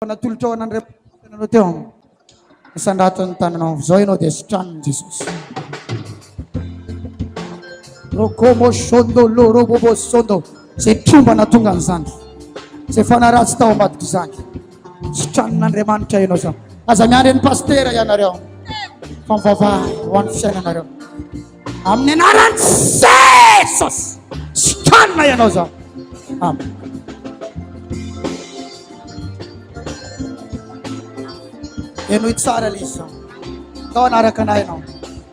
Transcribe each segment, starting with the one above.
Natolotra ho an'Andriamanitra nanao teo amin'ny isan-draton'ny tananao amin'izao ianao dia sitraniny Jesosy. Rokomo shondo loro bobo shondo izay tromba natonga an'izany izay fanaratsy tao ambadika izany sitranin'Andriamanitra ianao izany aza miandry an'i pastera ianareo fa mivavaha ho an'ny fiainanareo Amin'ny anaran'i Jesosy, sokanina ianao zao. Amen. Henoy tsara ilay izy zao. Ndao hanaraka anay ianao.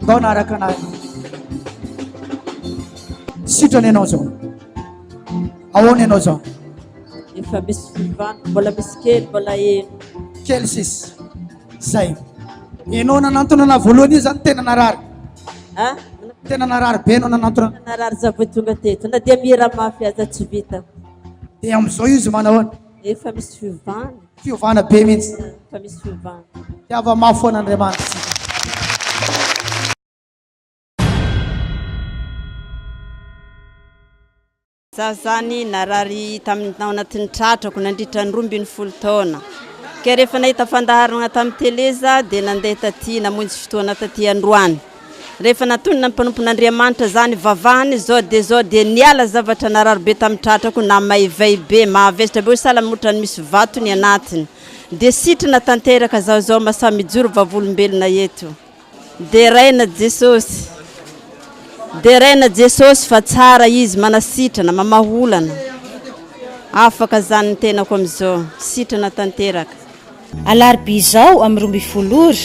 Ndao hanaraka anay ianao. Sitrana ianao zao. Ahoana ianao zao? Efa misy fivana, mbola misy kely, mbola heno. Kely sisa. Zay. Enao nanantona ana voalohany io zany tena narary. Ha? Tena narary be enao nanantona. Narary za vao tonga teto. Na dia mihira mafy aza tsy vita. Dia amin'izao izy manahoana? Efa misy fiovana. Fiovana be mihitsy. Efa misy fiovana. Tiava mafy foana Andriamanitra. Za zany narary tamin'ny tao anatin'ny tratrako nandritra ny roa ambin'ny folo taona. Ka rehefa nahita fandaharana tamin'ny tele za dia nandeha taty namonjy fotoana taty androany. Rehefa natonina ny mpanompon'Andriamanitra za nivavahany zao dia zao dia niala zavatra narary be tamin'ny tratrako na maivay be, mahavesatra be oe sahala amin'ny otrany misy vato ny anatiny. Dia sitrina tanteraka zaho zao masaha mijoro vavolombelona eto. Deraina Jesosy Deraina Jesosy fa tsara izy manasitrana mamaha olana afaka zany ny tenako amizao sitrana tanteraka. Alarobia izao amin'ny roa ambin'ny folo ora,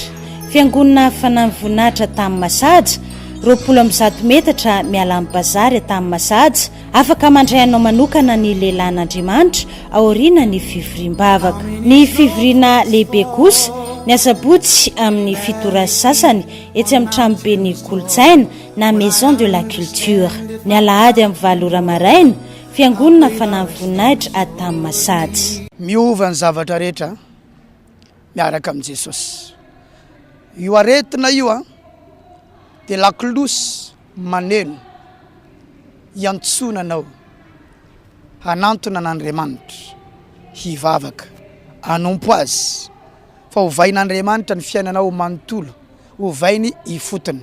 Fiangonana Fanan'ny Voninahitra Tahamasat, roapolo amby zato metatra miala amin'ny Bazary Tahamasat, Afaka mandray anao manokana ny lehilahin'Andriamanitra aoriana ny fivoriam-bavaka. Ny fivoriana lehibe kosa, ny asabotsy amin'ny fito ora sy sasany etsy amin'ny tranoben'ny kolontsaina na Maison de la Culture. Ny alahady amin'ny valo ora maraina, Fiangonana Fanan'ny Voninahitra Adam Masady. Miova ny zavatra rehetra miaraka amin'i Jesosy. Io aretina io dia lakolosy. Maneno iantsoana anao hanantona an'Andriamanitra, hivavaka, hanompo Azy, fa hovain'Andriamanitra ny fiainanao manontolo, hovainy ifotony,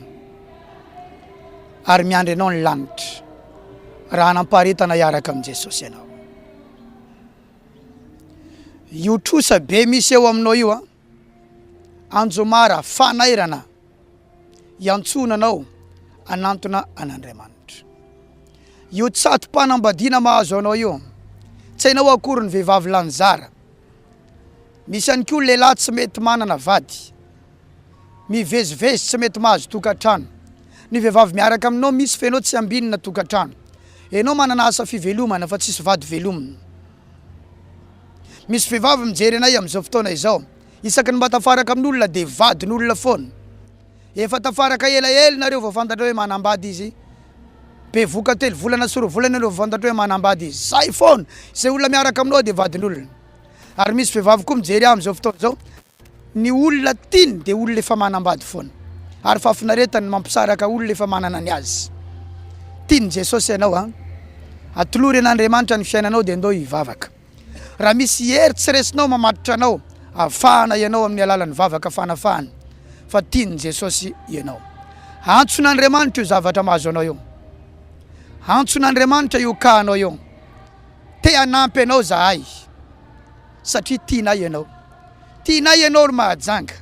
ary miandry anao ny lanitra, raha hanam-paharetana hiaraka amin'i Jesosy ianao. Io trosa be misy eo aminao io an, Anjomara fanairana iantsoana anao hanantona an'Andriamanitra. Io tsato-panambadiana mahazo anao io, tsy hainao akory ny vehivavy lany zara. Misy ihany koa ny lehilahy tsy mety manana vady, mivezivezy tsy mety mahazo tokantrano. Ny vehivavy miaraka aminao misy f'enao tsy ambinina tokantrano. Enao manana asa fivelomana fa tsisy vady velomina. Misy vehivavy mijery anay amin'izao fotoana izao. Isaky ny mba tafaraka amin'olona dia vadin'olona foana. Efa tafaraka ela ela nareo vao fantatra hoe manambady izy. Bevoka telo volana sy roa volana ianao vao fantatra hoe manambady izy. Zay foana! Izay olona miaraka aminao dia vadin'olona. Ary misy vehivavy koa mijery ahy amin'izao fotoana izao, Ny olona tiany dia olona efa manambady foana ary fahafinaretany ny mampisaraka olona efa manana ny azy. Tian'i Jesosy ianao an! Atolory an'Andriamanitra ny fiainanao dia ndao hivavaka. Raha misy hery tsy resinao mamatotra anao avy fahana ianao amin'ny alalan'ny vavaka fanafahana fa tian'i Jesosy ianao. Antson'Andriamanitra io zavatra mahazo anao io. Antson'Andriamanitra io kahanao io. Te hanampy anao zahay satria tianay ianao. Tianay ianao ry Mahajanga.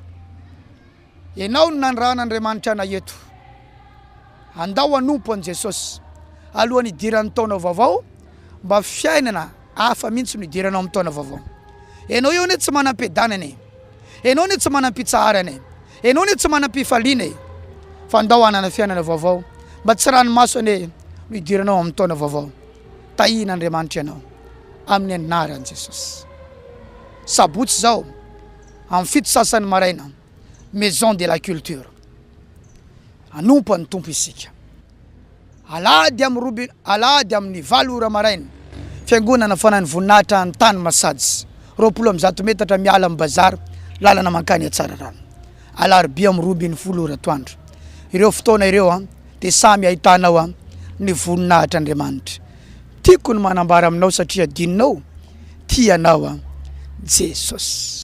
Ianao no nanirahan'Andriamanitra anay eto. Andao hanompo an'i Jesosy alohan'ny hidiran'ny taona vaovao mba fiainana hafa mihitsy no hidiranao amin'ny taona vaovao. Ianao eo anie tsy manam-piadanana e. Ianao anie tsy manam-pitsaharana e. Ianao anie tsy manam-pifaliana e. Fa andao hanana fiainana vaovao mba tsy ranomaso anie no hidiranao amin'ny taona vaovao. Tahin' Andriamanitra ianao amin'ny anaran'i Jesosy. Sabotsy izao amin'ny fito sasany maraina Maison de la Culture. Hanompo an'ny Tompo isika. Alahady amin'ny robe alahady amin'ny valo ora maraina Fiangonana Fanan'ny Voninahitra any Tanimasajy, roapolo amby zato metatra miala amin'ny Bazar, lalana mankany Atsararano. Alarobia amin'ny roa ambin'ny folo ora atoandro. Ireo fotoana ireo dia samy ahitanao ny voninahitr' Andriamanitra. Tiako ny manambara aminao satria adinonao, Tia anao Jesosy.